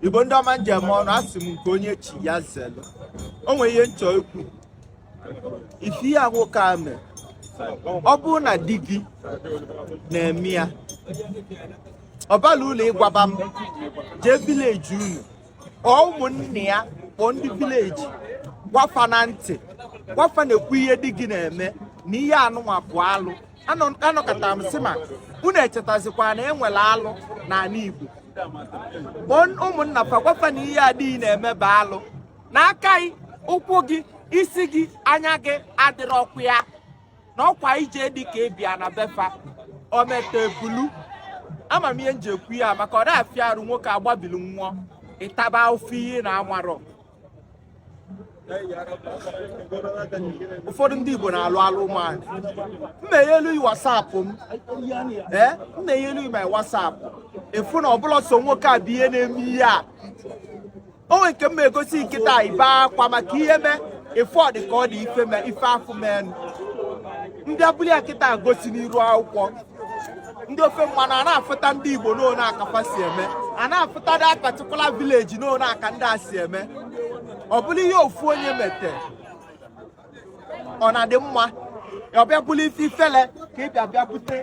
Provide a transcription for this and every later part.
igbo ndị ọma m ji eme ọnụ asị m nke onye chi ya zelu o nwere ihe m chọ ikwu ife a nwoke a mere ọ bụrụ na di gị na-eme ya ọbala ụlọ ịgwaba m jee village unu kpọọ ụmụnne ya kpọọ ndị village gwa fa na ntị gwa fa na nekwa ihe di gị na-eme na ihe anụnwa bụ alụ anọkata m sị ma unu echetazikwa na enwere alụ n'ala Igbo ụmụnna fa gwa fa na ihe a di gị na-eme bụ alụ na aka gị ụkwụ gị isi gị anya gị adịrọkwa ya na ọkwa ije di ka ị bịa na be fa o meta o bulu ama m ihe m ji ekwu ya maka ọ na-afịa arụ nwoke a gbabili nwụọ ị taba ife ị na-amarọ ụfọdụ ndị Igbo na-alụ alụ ụmụanyị m meghelu whatsapp m ee m meghelu my whatsapp ị fụ na ọ bụrọ sọ nwoke a bụ ihe na-eme ihe a o nwe nke m egosi kịta i bee akwa maka ihe mee efu ọ dị ka ọ dị ife mee ife afụ mee m bịa bulu ya kịta gosi n'iru akwụkwọ ndị ofe mmanụ a na-afụta ndị igbo n'one aka fa si eme a na-afụta that particular village n'one aka ndị a si eme ọ bụrụ ihe ofu onye mete ọ na-adị mma ọ bịa bụrụ ife ifele ka ị bịa bịa bute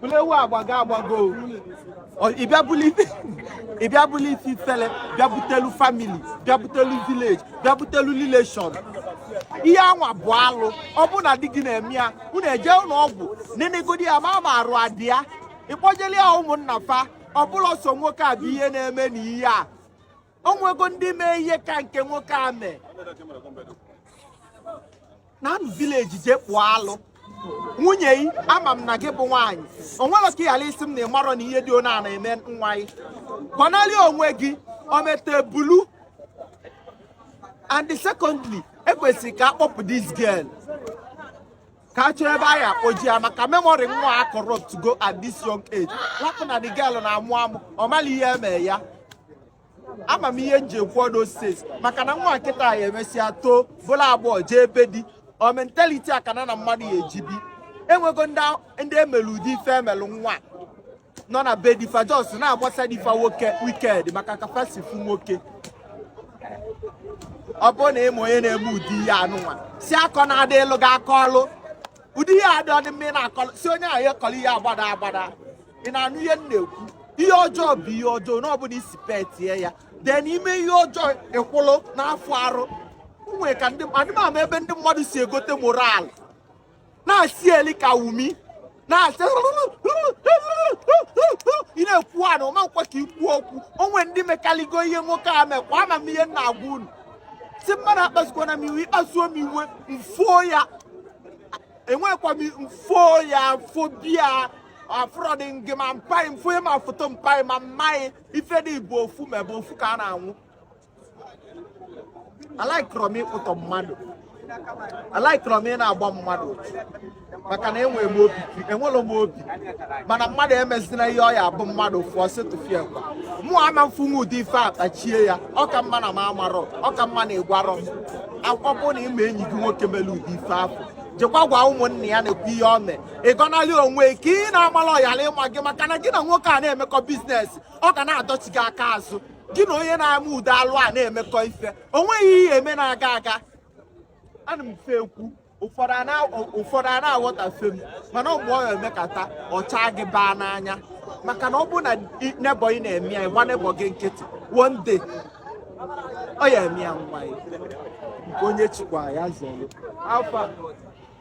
bụrụ ewu agbago agbago ịbịa bụrụ ife ịbịa bụrụ ife ifele bịa butelu family bịa butelu village bịa butelu relation ihe anwa bụ alụ ọ bụ na di gị na-eme ya unu ejee ụnọ ọgwụ nenegodi ya mara ma arụ adị ya ị kpọjelu ya ụmụnna fa ọ bụrọ sọ nwoke a bụ ihe na-eme na ihe a o nwego ndị mee ihe ka nke nwoke a mee na village jee kpụọ alụ nwunye yi ama m na gị bụ nwaanyị o nwerọ ka ị ghara ịsị m na ị marọ na ihe dị ona na-eme nwa gị gọnarị onwe gị o mete o bulu and secondly ekwesịrị ka akpọpụ this girl ka a chọọ ebe a ya-akpọje ya maka memory nwa a corrupt go at this young age lapụ na the girl na-amụ amụ ọ marọ ihe eme ya ama m ihe m ji ekwu all those things maka na nwa a kịta a emesịa too bụlụ agbọghọ jee be di ọ mentality a ka nya na mmadụ ya-eji bi enwego ndị emelu ụdị ife emelu nwa nọ na be di fa just na-agbasa di fa nwoke wicked maka ka fa si fụ nwoke ọ bụrụ na ị ma onye na-eme ụdị ihe anụnwa si akọ na-adị elu ga akọ ọlụ ụdị ihe adịrọ mma ị na-akọlụ si onye ahụ ekọrọ ihe agbada agbada ị na-anụ ihe m na-ekwu ihe ọjọọ bụ ihe ọjọọ na ọbụla isi petie ya dee n'ime ihe ọjọọ ịkwụlụ n'afọ arụ nwere ka ndị adịmama ebe ndị mmadụ si egote moral na-asị eli ka wumi na-asị ị na-ekwu ana ọma nkwa ka ikwu okwu o nwe ndị mekaligo ihe nwoke a mekwa ama m ihe m na-agwa unu si mmadụ akpasukwana m iwe ị kpasuo m iwe mfuo ya enwekwa m mfuo ya mfo bia upload ngị ma mpa gị mfo ya ma foto mpa gị ma mma gị ife dị bụ ofu ma ebe ofu ka a na-anwụ alaikọrọ m ịkpụtọ mmadụ alaikọrọ m ị na-agba mmadụ maka na enwere m obi enwere m obi mana mmadụ emezina ihe ọ ya abụ mmadụ fụọ setụfie kwa mụ ama mfu m ụdị ife a kpachie ya ọ ka mma na m amarọ ọ ka mma na ị gwarọ m akwụkwọ bụ na ị ma enyi gị nwoke mere ụdị ife afụ jekwa gwa ụmụnne ya na-ekwu ihe o mee ị gọnarị onwe ka ị na-amala ọyala ịma gị maka na gị na nwoke a na-emekọ business ọ ga na-adọchi gị aka azụ gị na onye na-eme ụdị alụ a na-emekọ ife o nweghị ihe e me na-aga aga ana m fe ekwu ụfọdụ a na- ụfọdụ a na-aghọtafe m mana mgbe ọ ya-emekata ọ cha gị baa n'anya maka na ọ bụrụ na i- neighbour gị na-eme ya ị gba neighbour gị nkịtị one day ọ ya-eme ya nwa ya nke onye chikwa ya zọrọ alfa